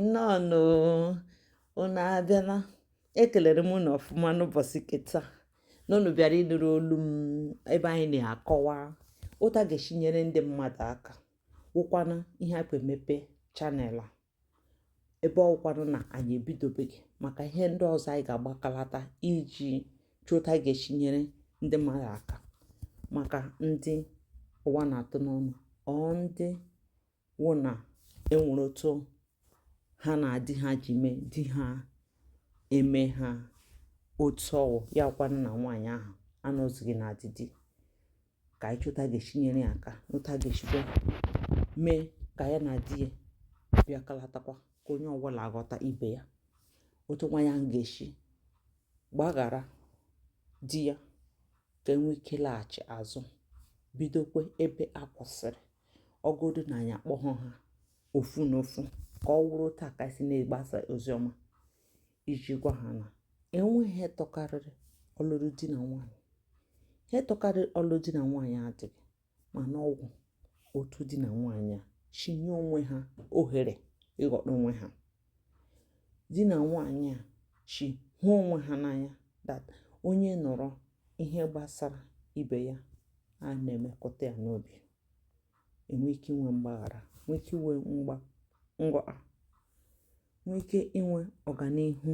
nnọọnụ unu abịala ekelere m unu ọfụma n'ụbọchị ke taa na unu bịara ịnụrụ olu m ebe anyị na-akọwa otu a ga-esi nyere ndị mmadụ aka wụkwanụ ihe a emepe channel a ebe ọ wụkwanụ na anyị ebidobeghị maka ihe ndị ọzọ anyị ga-agbakalata iji chọọ otu a ga-esi nyere ndị mmadụ aka maka ndị ụwa na-atụ n'ọnụ or ndị wụ na e nwere otu ha na di ha ji mee di ha emee ha otu ọ wụ ya kwanụ na nwaanyị ahụ anọzighị na di dị ka anyị chọọ otu a ga-esi nyere ya aka na otu a ga-esikwa mee ka ya na di ya bịakalatakwa ka onye ọbụla aghọta ibe ya otu nwaanyị ahụ ga-esi gbaghara di ya ka e nwee ike laghachi azụ bidokwe ebe a kwụsịrị ọ godu na anyị akpọghọ ha ofu n'ofu ka ọ wụrụ otu a ka si na-agbasa oziọma iji gwa ha na e nweghị ihe tọkarịrị ọlụlụ di na nwaanyị ihe tọkarịrị ọlụlụ di na nwaanyị adịghị mana ọ wụ otu di na nwaanyị a si nye onwe ha ohere ịghọta onwe ha di na nwaanyị a si hụ onwe ha n'anya that onye nụrụ ihe gbasara ibe ya a na-emekụta ya n'obi e nwee ike inwe mgbaghara nwee ike inwe mgba nghọta nwee ike inwe ọganihu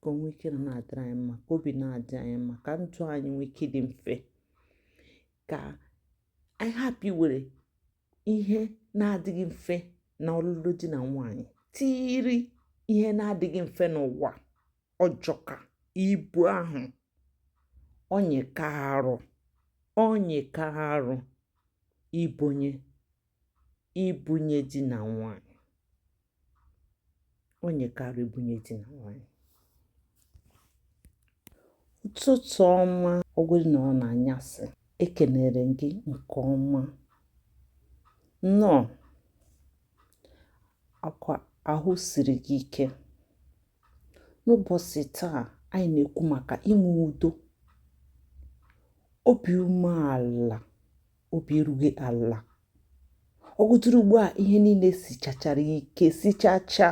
ka o nwee ike na na-adịrị anyị mma ka obi na-adị anyị mma ka ndụ anyị nwee ike dị mfe ka anyị hapụ iwere ihe na-adịghị mfe na ọlụlụ di na nwaanyị tiiri ihe na-adịghị mfe n'ụwa ọ jọka ibu ahụ ọ nyịka arụ ọ nyịka arụ ibunye ibunye di na nwaanyị ọ nyịka arụ ibunye di na nwaanyị ụtụtụ ọma ọ wụrụ na ọ n'anyasị ekenere m gị nke ọma nnọọ ọkwa ahụ siri gị ike n'ụbọchị taa anyị na-ekwu maka inwe udo obi umeala obi erughị ala ọ gụtụrụ ugbu a ihe niile sichachara ike sichacha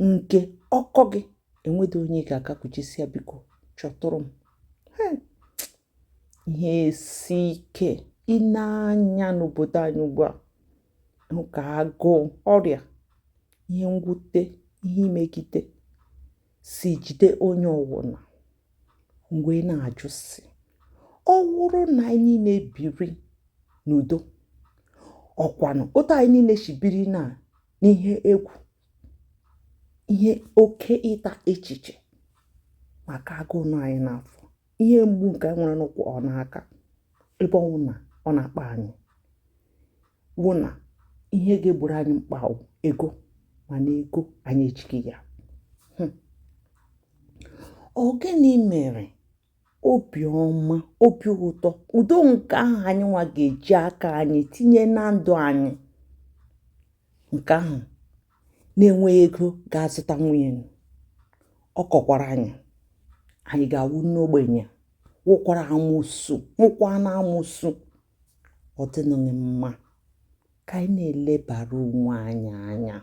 nke ọkọ gị enwedu onye ga-agakwuchi sị ya biko chọtụrụ m ihe isi ike ị na-anya n'obodo anyị ugbu a ka agụụ ọrịa ihe mwute ihe imegide si jide onye ọwụna mgbe na-ajụ sị ọ wụrụ na anyị niile biri n'udo ọkwanụ otu anyị niile shi biri na n'ihe egwu ihe oke ịta echiche maka agụụ nọ anyị n'afọ ihe mgbu nke anyị nwere n'ụkwụ ọ n'aka ebe ọ wụ na ọ na-akpa anyị wụ na ihe ga-egboro anyị mkpa wụ ego mana ego anyị ejighị ya hmm. ọ gịnị mere obiọma obi ụtọ udo nke ahụ anyị nwa ga-eji aka anyị tinye na ndụ anyị nke ahụ na-enweghị ego ga-azụtanwu ya nụ ọ kọkwara anyị anyị ga-awụ n'ogbenye wụkwara amụsụ wụkwa na amụsụ ọ dịnụghị mma ka anyị na-elebara onwe anyị anya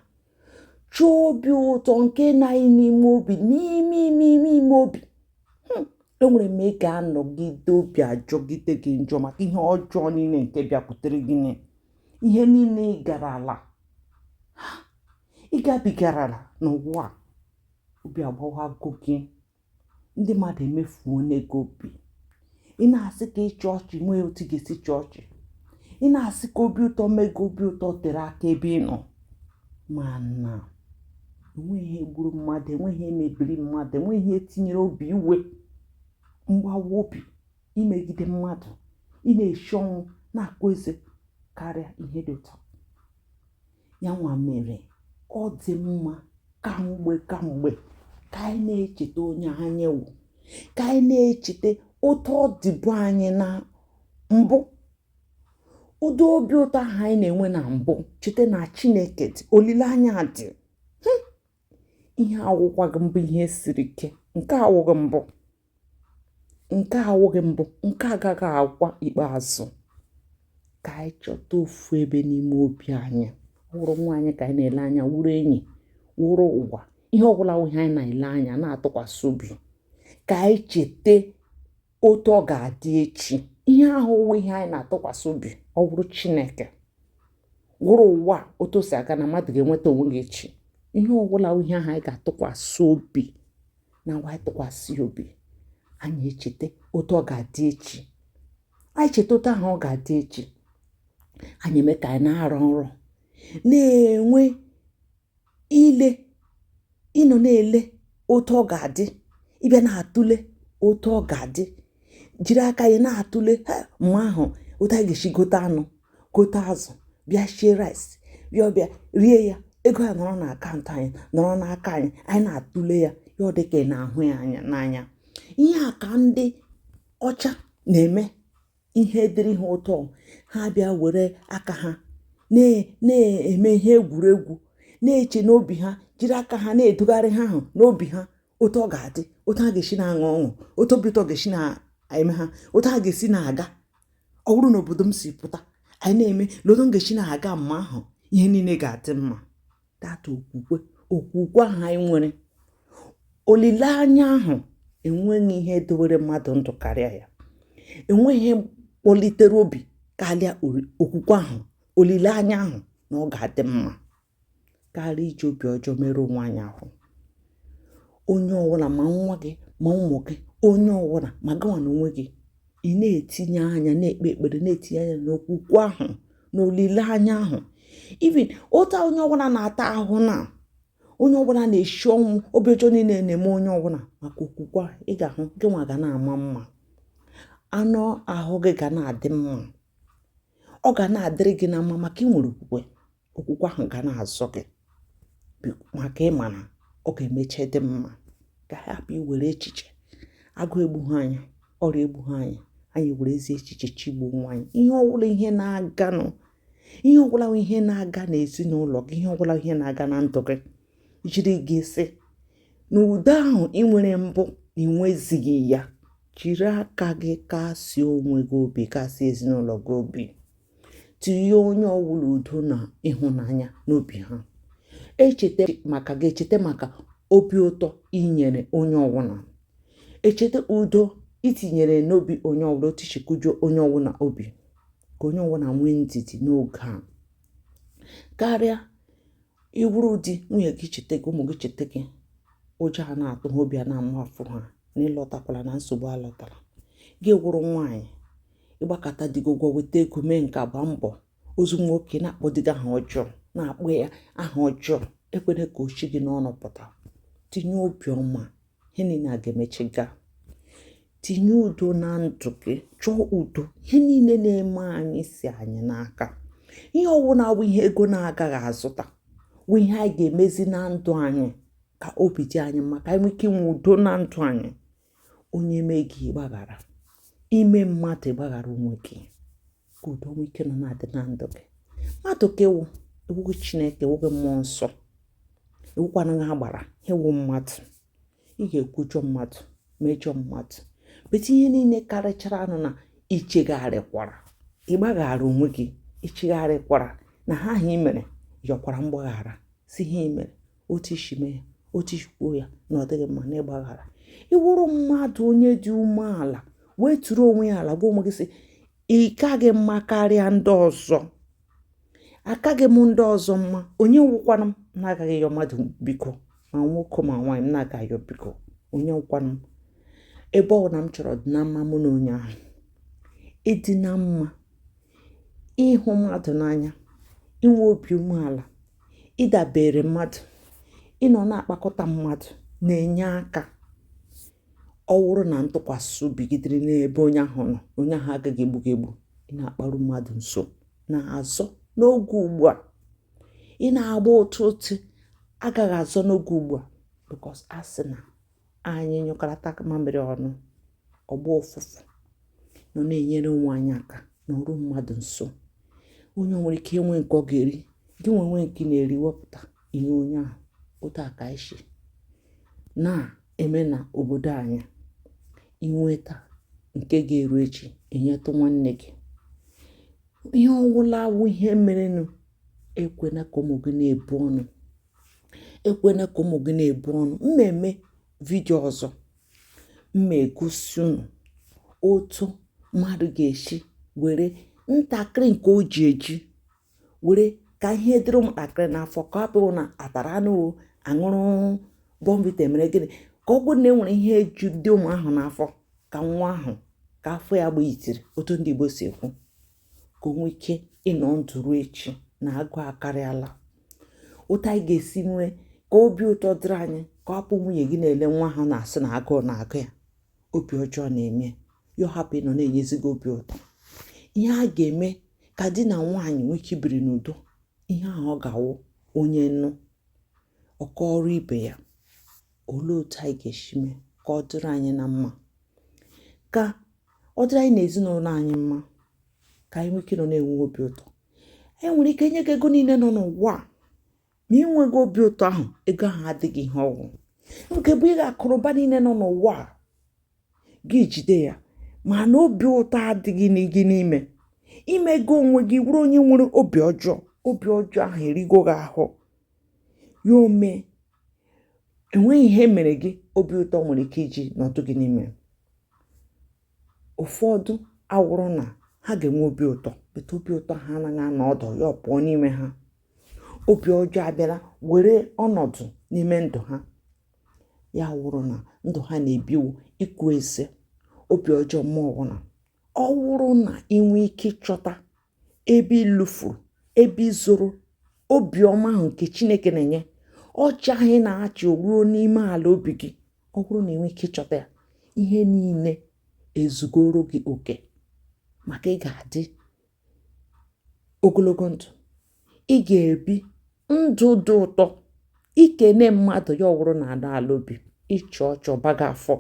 chọọ obi ụtọ nke nọ anyị n'ime obi n'ime ime ime ime obi hmm, e nwere mgbe ị ga-anọgide obi ajọgide gị njọ maka ihe ọjọọ niile nke bịakwutere gị ihe niile ị garala ị gabigarala n'ụwa obi agbawago gị ndị mmadụ emefuona gị obi ị na-asị ka ị chịa ọchị enweghị otu ị ga-esi chịa ọchị ị na-asị ka obi ụtọ mee gị obi ụtọ tere aka ebe ị nọ mana enweghị ihe gburu mmadụ enweghị ihe mebiri mmadụ enweghị ihe tinyere obi iwe mgbawa obi imegide mmadụ ị na-eshi ọnwụ na-akpụ eze karịa ihe dị ụtọ ya nwa mere ọ dị mma kamgbe kamgbe ka anyị na-echeta onye anyị wụ ka anyị na-echeta otu ọ dịbu anyị na mbụ ụdị obi ụtọ ahụ anyị na-enwe na mbụ cheta na chineke dị olileanya dị ihe awụkwaghị mbụ ihe siri ike nke a awụghị mbụ nke a awụghị mbụ nke a agaghị awụkwa ikpeazụ ka anyị chọta ofu ebe n'ime obi anyị wụrụ nwaanyị ka anyị na-ele anya wụrụ enyi wụrụ ụwa ihe ọwụla wụ ihe anyị na-ele anya na-atụkwasị obi ka anyị cheta otu ọ ga-adị echi ihe ahụ wụ ihe anyị na-atụkwasị obi ọ wụrụ chineke wụrụ ụwa otu o si aga na mmadụ ga-enweta onwe gị echi ihe ọwụla wụ ihe ahụ anyị ga-atụkwasị obi na nwa anyị tụkwasị obi anyị echeta otu ọ ga-adị echi anyị cheta otu ahụ ọ ga-adị echi anyị eme ka anyị na-arọ nrọ na-enwe ile ịnọ na-ele otu ọ ga-adị ị bịa na-atụle otu ọ ga-adị jiri aka anyị na-atụle mgbe ahụ otu anyị ga-esi gote anụ gote azụ bịa shie rice bịa ọbịa rie ya ego ya nọrọ na akaụntụ anyị nọrọ n'aka anyị anyị na-atụle ya ya ọ dị ka ị na-ahụ ya anya n'anya ihe a ka ndị ọcha na-eme ihe dịrị ha ụtọ ha bịa were aka ha na-eme ihe egwuregwu na-eche n'obi ha jiri aka ha na-edugharị ihe ahụ n'obi ha otu ọ ga-adị otu ha ga-esi na-aṅụ ọṅụ otu obi ụtọ ga-esi na-eme ha otu ha ga-esi na-aga ọ bụrụ na obodo m si pụta anyị na-eme na otu m ga-esi na-aga mma ahụ ihe niile ga-adị mma that okwukwe okwukwe ahụ anyị nwere olileanya ahụ enweghị ihe dowere mmadụ ndụ karịa ya enweghị ihe kpọlitere obi karịa okwukwe ahụ olileanya ahụ na ọ ga-adị mma karịa iji obi ọjọọ merụọ onwe anyị ahụ onye ọwụla ma nwa gị ma ụmụ gị onye ọwụla ma gịnwa na onwe gị ị na-etinye anya na-ekpe ekpere na-etinye anya n'okwukwe ahụ na olileanya ahụ even otu onye ọbụla na-ata ahụ na onye ọbụla na-eshi ọnwụ obi ọjọọ niile na-eme onye ọbụla maka okwukwe a ị ga-ahụ gị nwa ga na-ama mma anụ ahụ gị ga na-adị mma ọ ga na-adịrị gị na mma maka ị nwere okwukwe okwukwe ahụ ga na-azọ gị maka ị ma na ọ ga-emecha dị mma ka a hapụ iwere echiche agụụ egbughị anyị ọrịa egbughị anyị anyị were ezi echiche chigbuo onwe anyị ihe ọbụla ihe na-aga n'ezinụlọ gị ihe ọbụla ihe na-aga na ndụ gị jiri gị sị na udo ahụ ị nwere mbụ na ị nwezighị ya jiri aka gị kasie onwe gị obi kasie ezinụlọ gị obi tinye onye ọwụla udo na ịhụnanya n'obi ha e cheta maka gị e cheta maka obi ụtọ i nyere onye ọwụla e cheta udo i tinyere n'obi onye ọwụla otu i shi kujuo onye ọwụla obi ka onye ọwụla nwee ndidi n'oge a karịa ị wụrụ di nwunye gị echeta gị ụmụ gị echeta gị ụjọ a na-atụ ha obi a na-amafụ ha na ị lọtakwala na nsogbu alọtara gị wụrụ nwaanyị ị gbakata di gị ụgwọ weta ego mee nke a gbaa mbọ ozu nwoke na-akpọ di gị aha ọjọọ na-akpọ ya aha ọjọọ ekwena ka o shi gị n'ọnụ pụta tinye obiọma ihe niile a ga-emecha gaa tinye udo na ndụ gị chọọ udo ihe niile na-eme anyị si anyị n'aka ihe ọwụna bụ ihe ego na-agaghị azụta bụ ihe anyị ga-emezi na ndụ anyị ka obi dị anyị mma ka anyị nwee ike inwe udo na ndụ anyị onye mee gị gbaghara i mee mmadụ gbaghara onwe gị ka udo nwee ike nọ na-adị na ndụ gị mmadụ ka ị wụ ị wụghị chineke ị wụghị mmụọ nsọ ị wụkwanaghị agbara ihe ị wụ mmadụ ị ga-ekwujọ mmadụ mejọ mmadụ but ihe niile karịcharanụ na ị chegharịkwara ị gbaghara onwe gị ị chegharịkwara na ihe ahụ i mere yọkwara mgbaghara sị ihe i mere otu i si mee ya otu i si kwuo ya na ọ dịghị mma na ịgbaghara ị wụrụ mmadụ onye dị umeala weturu onwe ya ala gwa onwe gị sị ị kaghị mma karịa ndị ọzọ akaghị m ndị ọzọ mma onye wụkwanụ m na-agaghị yọ mmadụ biko ma nwoke ma nwaanyị m na-aga yọ biko onye wụkwanụ m ebe ọ wụ na m chọrọ ịdị na mma mụ na onye ahụ ịdị na mma ịhụ mmadụ n'anya inwe obi umeala ịdabere mmadụ ịnọ na-akpakọta mmadụ na-enye aka ọ wụrụ na ntụkwasị obi gị dịrị n'ebe onye ahụ nọ onye ahụ agaghị egbu gị egbu ịna-akparu mmadụ nso na-azọ n'oge ugbu a ịna-agba otu otu agaghị azọ n'oge ugbu a because a sị na anyị nyụkọrọta mamịrị ọnụ ọ gbaa ụfụfụ nọ na-enyere onwe anyị aka nọruo mmadụ nso onye nwere ike inwe nke ọ ga-eri gị nwee nke ị na-eri wepụta nye onye ahụ otu a ka e si na-eme na obodo anyị i nweta nke ga-eru echi nyetụ nwanne gị ihe ọ wụla wụ ihe merenụ ekwena ka ụmụ gị na-ebu ọnụ ekwena ka ụmụ gị na-ebu ọnụ m meme vidio ọzọ m ma-egosi unu otu mmadụ ga-esi were ntakịrị nke o ji eji were ka ihe dịrị ụmụntakịrị n'afọ ka ọ bụrụ na a tara anụ a ṅụrụ bournvita e mere gịnị ka ọ bụrụ na e nwere ihe eju dị ụmụ ahụ n'afọ ka nwa ahụ ka afọ ya gbaa itiri otu ndị Igbo si ekwu ka o nwee ike ịnọ ndụ ruo echi na agụụ akarịala otu anyị ga-esi nwee ka obi ụtọ dịrị anyị ka ọ hapụ nwunye gị na-ele nwa ha na-asị na agụụ na-agụ ya obi ọjọọ na-eme ya ọ hapụ ịnọ na-enyezi gị obi ụtọ ihe a ga-eme ka di na nwaanyị nwee ike ibiri n'udo ihe ahụ ọ ga-awụ onye nụ ọ kọọrọ ibe ya olee otu anyị ga-esi mee ka ọ dịrị anyị na mma ka ọ dịrị anyị na ezinụlọ anyị mma ka anyị nwee ike nọ na-enwe obi ụtọ e nwere ike nye gị ego niile nọ n'ụwa a ma ị nweghị obi ụtọ ahụ ego ahụ adịghị ihe ọ wụ ka e bunye gị akụnụba niile nọ n'ụwa a gị jide ya ma na obi ụtọ adịghị gị n'ime ime gị onwe gị wụrụ onye nwere obi ọjọọ obi ọjọọ ahụ erigo gị ahụ ya ome enweghị ihe mere gị obi ụtọ nwere ike iji nọọ ọdụ gị n'ime ụfọdụ awụrụ na ha ga-enwe obi ụtọ but obi ụtọ ha anaghị anọ ọdụ ya ọ pụọ n'ime ha obi ọjọọ abịara were ọnọdụ n'ime ndụ ha ya wụrụ na ndụ ha na-ebi wụ ịkụ eze obi ọjọọ ma ọwụna ọ wụrụ na i nwee ike ịchọta ebe i lufuru ebe i zoro obiọma ahụ nke chineke na-enye ọchị ahụ ị na-achị ruo n'ime ala obi gị ọ wụrụ na i nwee ike ịchọta ya ihe niile ezugoro gị oke maka ị ga-adị ogologo ndụ ị ga-ebi ndụ dị ụtọ i kene mmadụ ya awụrụ na ala ala obi ị chịa ọchị ọ baga afọ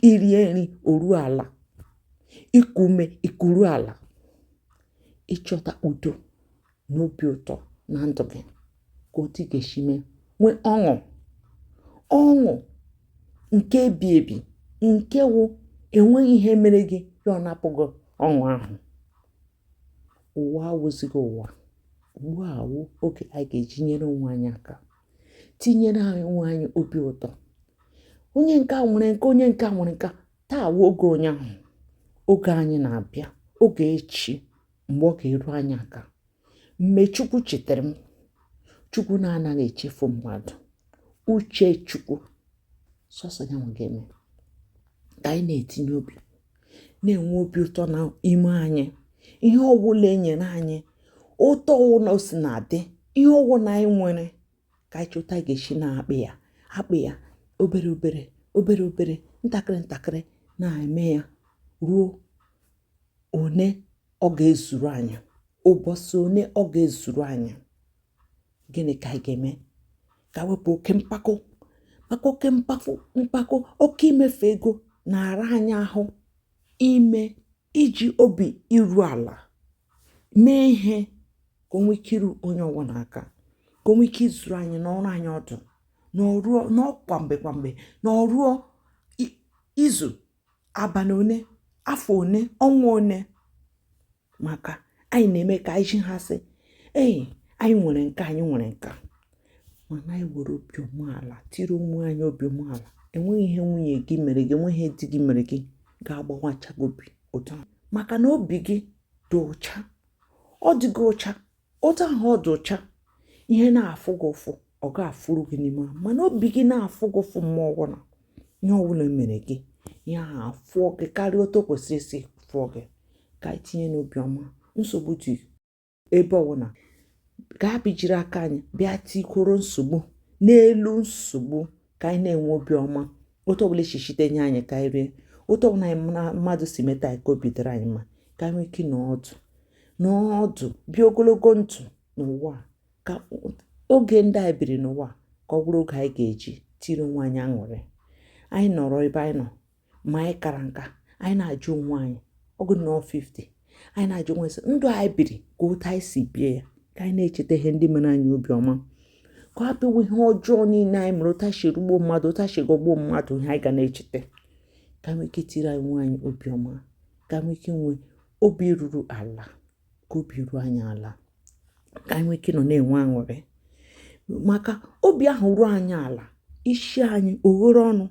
i rie nri o ruo ala i kuo ume i kuru ala ị chọta udo na obi ụtọ na ndụ gị ka otu ị ga-esi mee nwee ọṅụ ọṅụ nke ebi ebi nke wụ enweghị ihe mere gị ya anapụ gị ọṅụ ahụ ụwa awụzighị ụwa ugbu a wụ oge anyị ga-eji nyere onwe anyị aka tinyere onwe anyị obi ụtọ onye nke a nwere nke a onye nke a nwere nke a taa wụ oge onye ahụ oge anyị na-abịa oge echi mgbe ọ ga-eru anyị aka mgbe chukwu chetara m chukwu na-anaghị echefu mmadụ uche chukwu sọsọ ya nwa ga-eme ka anyị na-etinye obi na-enwe obi ụtọ na ime anyị ihe ọwụla e nyere anyị otu ọwụla o si na-adị ihe ọwụla anyị nwere ka anyị chọta ga-esi na-akpị ya akpị ya obere obere obere obere ntakịrị ntakịrị na-eme ya ruo one ọ ga-ezuru anyị ụbọchị one ọ ga-ezuru anyị gịnị ka anyị ga-eme ka e wepụ oke mpako maka oke mpako oke imefu ego na-ara anyị ahụ ime iji obi iru ala mee ihe ka o nwee ike iru onye ọwụla aka ka o nwee ike izuru anyị nọrọ anyị ọdụ nọọ kwa mgbe kwa mgbe na o ruo izu abalị one afọ one ọnwa one maka anyị na-eme ka anyị zi ha sị anyị nwere nke a anyị nwere nke a mana anyị were obi umeala tiri onwe anyị obi umeala enweghị ihe nwunye gị mere gị enweghị ihe di gị mere gị ga-agbawacha gị obi maka na obi gị dị ụcha ọ dịghị ụcha otu ahụ ọ dị ụcha ihe na-afụ gị ụfụ ọ ga-afụrụ gị n'ime ahụ mana obi gị na-afụ gị ụfụ mgbe ọbụla ihe ọbụla mere gị ihe ahụ afụọ gị karịa otu o kwesịrị isi fụọ gị ka anyị tinye n'obi ọma nsogbu dị ebe ọbụla gaa bịa jiri aka anyị bịa tikworo nsogbu n'elu nsogbu ka anyị na-enwe obi ọma otu ọbụla e si site nye anyị ka anyị rie otu ọbụla anyị mmadụ si meta anyị ka obi dịrị anyị mma ka anyị nwee ike nọdụ nọdụ bie ogologo ndụ n'ụwa ka oge ndị anyị biri n'ụwa ka ọ bụrụ oge anyị ga-eji tiri onwe anyị aṅụrị anyị nọrọ ebe anyị nọ ma anyị kara nka anyị na-ajụ onwe anyị ọgụ nọ 50 anyị na-ajụ onwe sị ndụ anyị biri ka otu anyị si bie ya ka anyị na-echeta ihe ndị mere anyị obiọma ka ọ bụrụ ihe ọjọọ niile anyị mere otu anyị si rugbuo mmadụ otu anyị si ghọgbuo mmadụ ihe anyị ga na-echeta ka nwee ike tiri onwe anyị obiọma ka nwee ike nwee obi ruru ala ka obi ruo anyị ala ka anyị nwee ike nọ na-enwe aṅụrị maka obi ahụ ruo anyị ala isi anyị eghere ọnụ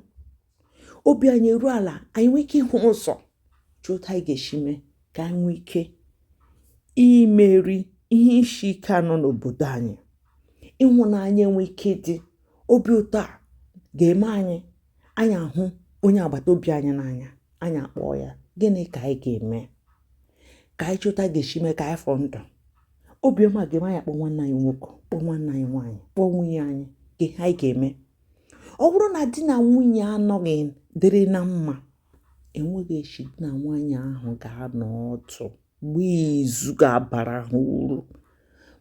obi anyị eruo ala anyị nwee ike ịhụ ụzọ chọta otu anyị ga-esi mee ka anyị nwee ike imeri ihe isi ike a nọ n'obodo anyị ịhụnanya enwee ike dị obi ụtọ a ga-eme anyị anyị ahụ onye agbata obi anyị n'anya anyị akpọọ ya gịnị ka anyị ga-eme ka anyị chọta ga-esi mee ka anyị fọ ndụ obiọma ga-eme anyị kpọọ nwanne anyị nwoke kpọọ nwanne anyị nwaanyị kpọọ nwunye anyị ka ihe anyị ga-eme ọ bụrụ na di na nwunye anọghị dịrị na mma enweghị eshi di na nwaanyị ahụ ga-anọ ọdụ gbaa izu ga-abara ha uru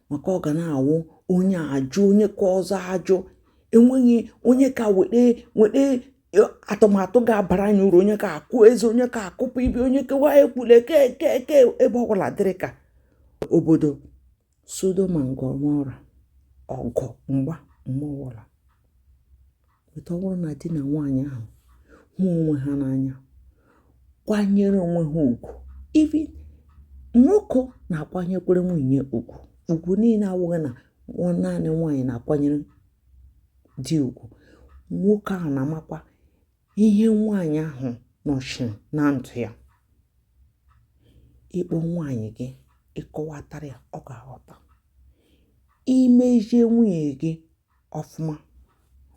maka ọ ga na-awụ onye a jụ onye ka ọzọ ajụ enweghị onye ga-eweta weta e, atụmatụ ga-abara anyị uru onye ka ekwu eze onye ka ekwupụ ibi onye kewa ekwule keke ebe ọbụla dịrị ka obodo Sodom and Gomorrah ọgụ mgba mgbe ọbụla but ọ bụrụ na di na nwaanyị ahụ hụ onwe ha n'anya kwanyere onwe ha ugwu even nwoke na-akwanyekwere nwunye ugwu ugwu niile awụghị na ọ naanị nwaanyị na-akwanyere di ugwu nwoke ahụ na-amakwa ihe nwaanyị ahụ nọchiri na ndụ ya ị kpọọ nwaanyị gị ị kọwatara ya ọ ga-aghọta i mezie nwunye gị ọfụma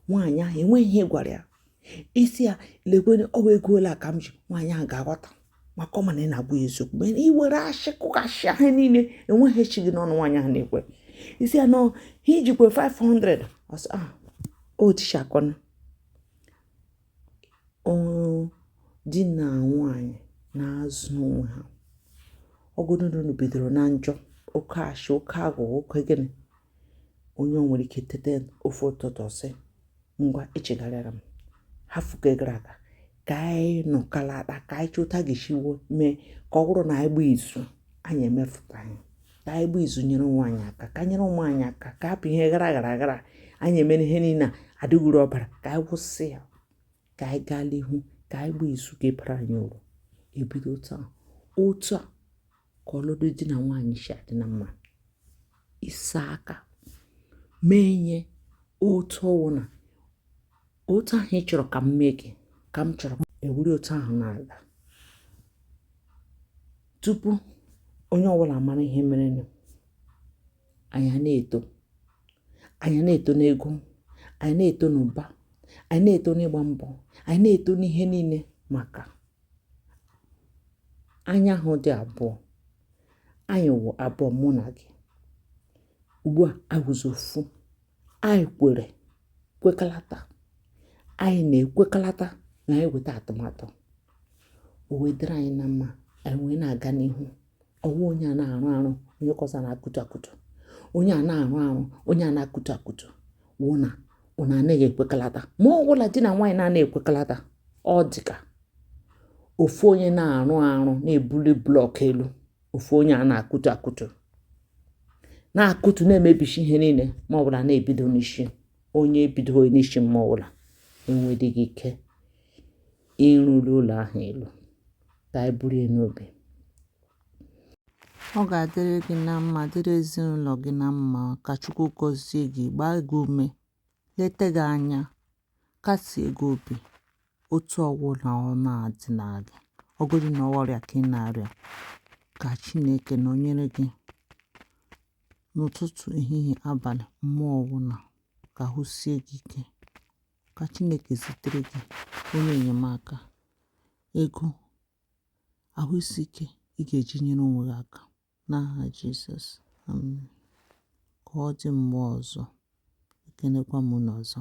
nwaanyị ahụ enweghị ihe ị gwara ya ị sị ya lekwere ọwa ego ole ka m ji nwaanyị ahụ ga-aghọta maka ọ ma na ị na-agwa ya eziokwu mgbe ị were ashị kụghachị ahụ niile enweghị eshi gị n'ọnụ nwaanyị ahụ na-ekwe ị sị ya nọ ha i jikwa 500 ọ sị ah, o tichakọna ọrụ di nà nwaànyị̀ na-azụ onwe ha ọ wụgodu nà unù bìdòrò na njọ oke ashị, oke aghụ̀ghọ, oke gịnị onye o nwèrè ike tete ofu ụtụtụ ọ sị ngwa echègharịala m hafụ nke gara aga kà anyị nọ̀kalata kà anyị chọta otu a gà-èsi mee kà ọ bụrụ nà anyị gbaa ìzu anyị èmefụ̀ta ya ka anyị gba izu nyere onwe anyị aka ka anyị nyere onwe anyị aka ka hapụ ihe gara aga anyị emere ihe niile a adịghị uru ọ bara ka anyị kwụsị ya ka anyị gaa n'ihu ka anyị gba izu ga-ebara anyị uru ebido taa otu a ka ọlụlụ di na nwaanyị si adị na mma ịsa aka mee ihe otu ọwụna otu ahụ ị chọrọ ka m mee gị ka m chọrọ e wuru otu ahụ na-aga tupu onye ọbụla mara ihe merenụ anyị na-eto anyị na-eto n'ego anyị na-eto n'ụba anyị na-eto n'ịgba mbọ anyị na-eto n'ihe niile maka anyị awụdị abụọ anyị wụ abụọ mụ na gị ugbu a awụzi ofu anyị kwere kwekalata anyị na-ekwekalata na anyị weta atụmatụ o wee dịrị anyị na mma anyị wee na-aga n'ihu ọwụ onye a na-arụ arụ onye nke ọzọ na-akụtu akụtu onye a na-arụ arụ onye a na-akụtu akụtu wụ na unu anaghị ekwekalata mgbe ọwụla di na nwaanyị na-anaghị ekwekalata ọ dịka ofu onye na-arụ arụ na-ebuli blọk elu ofu onye a na-akụtu akụtu na-akụtu na-emebishi ihe niile mgbe ọbụla na-ebido n'isi onye ebido n'isi mgbe ọbụla enwedịghị ike ịrụli ụlọ ahụ elu ka anyị buru ya n'obi ọ ga-adịrị gị na mma dịrị ezinụlọ gị na mma ka chukwu gọzie gị gbaa gị ume leta gị anya Kasie gị obi, otu ọ wụla ọ na-adịla gị, ọ wụgodu na ọ wụ ọrịa ka ị na-arịa, ka Chineke nọnyere gị n'ụtụtụ, ehihie, abalị, mgbe ọ wụla. Ka ahụ sie gị ike. Ka Chineke zitere gị onye enyemaka, ego, ahụ isi ike ị ga-eji nyere onwe gị aka. N'aha Jizọs, amen. Ka ọ dị mgbe ọzọ, ekenekwa m unu ọzọ.